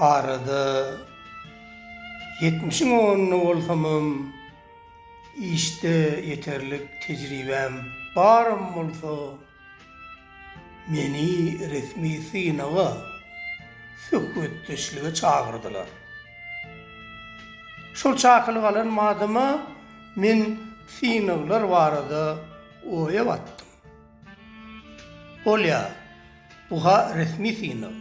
Arada ýetmişiň onunda bolsamam, işde ýeterlik tejribäm baram bolsa, Meni resmi synaga, söhbetdeşlige çagyrdylar. Şol çakylyk alan badyma men synaglar barada oýa batdym. Bolýar, bu-ha resmi synag.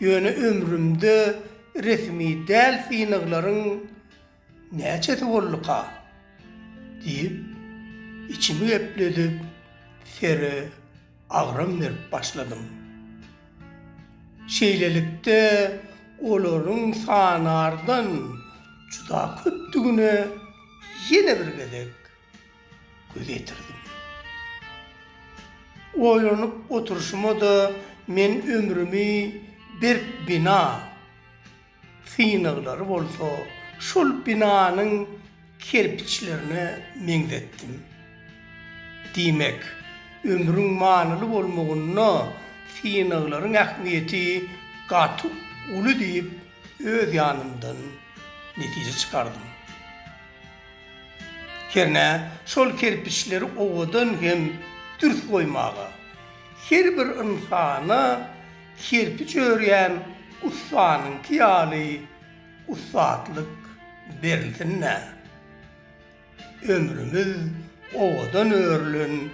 Ýöne ömrümde resmi däl synaglaryň Näçesi bolduka? diýip, içimi gepledip, Sere agram berip başladym. Şeýlelikde, olaryň sanardan juda köpdügine ýene bir gezek göz ýetirdim. Oýlanyp oturyşyma-da men ömrümi berk bina. Synaglary bolsa şol binanyň kerpiçlerine meňzetdim. Diýmek, ömrüň manyly bolmagynda synaglaryň ähmiýeti gaty uly diýip öz ýanymdan netije çykardym. Hernä, şol kerpiçleri owadan hem dürs goýmaga, her bir ynsana Kerpiç örýän ussanyňky ýaly ussatlyk berilsin-dä. Ömrümiz owadan örülen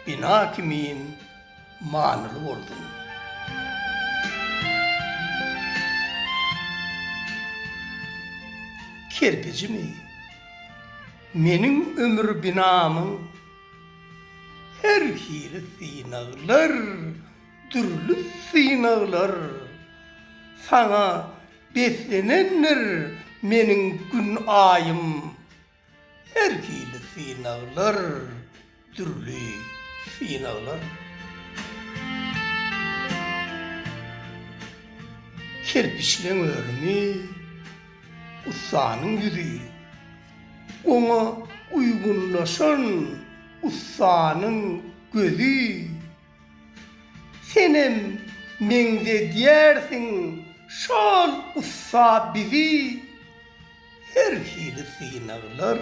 bina kimin manyly bolsun. Kerpijimi? Meniň ömür binamyň her hili synaglar Dürli synaglar saňa beslenendir meniň gün aýym Her hili synaglar dürli synaglar Kerpiçleň örümi ussanyň ýüzi Oňa uýgunlaşan ussanyň gözi. Senem meňzedýärsiň şol ussa bizi Her hili synaglar,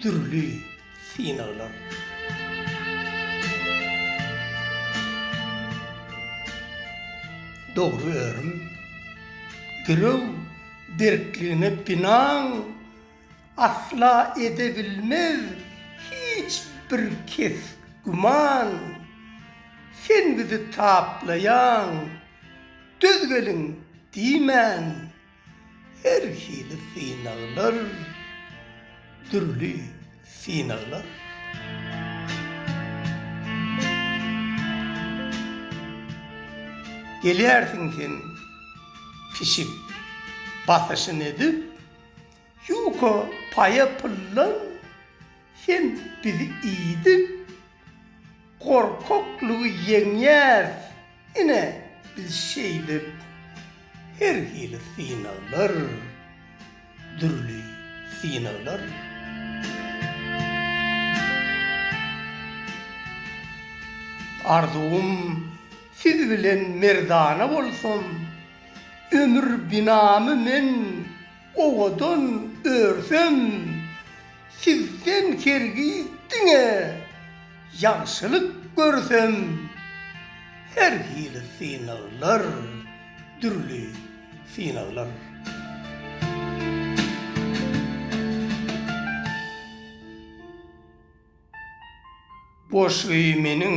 dürli synaglar. Dogry örüm, girew berkligine binan, Asla edebilmez hiç bir kes güman, Sen bizi taplaýaň, döz geliň diýmän. Her hili synaglar, dürli synaglar. Gelýärsiň sen pişik basyşyn edip. Ýuka paýa pyllan sen bizi iýdik gorkaklygy ýeňýäs ine biz şeýdip her hili synaglar dürli synaglar. Arzuwym siz bilen merdana bolsun. Ömür binamy men owadan örsem, Sizden hergiz diňe ýagşylyk görsem. Her hili synaglar, dürli synaglar. Boşy meniň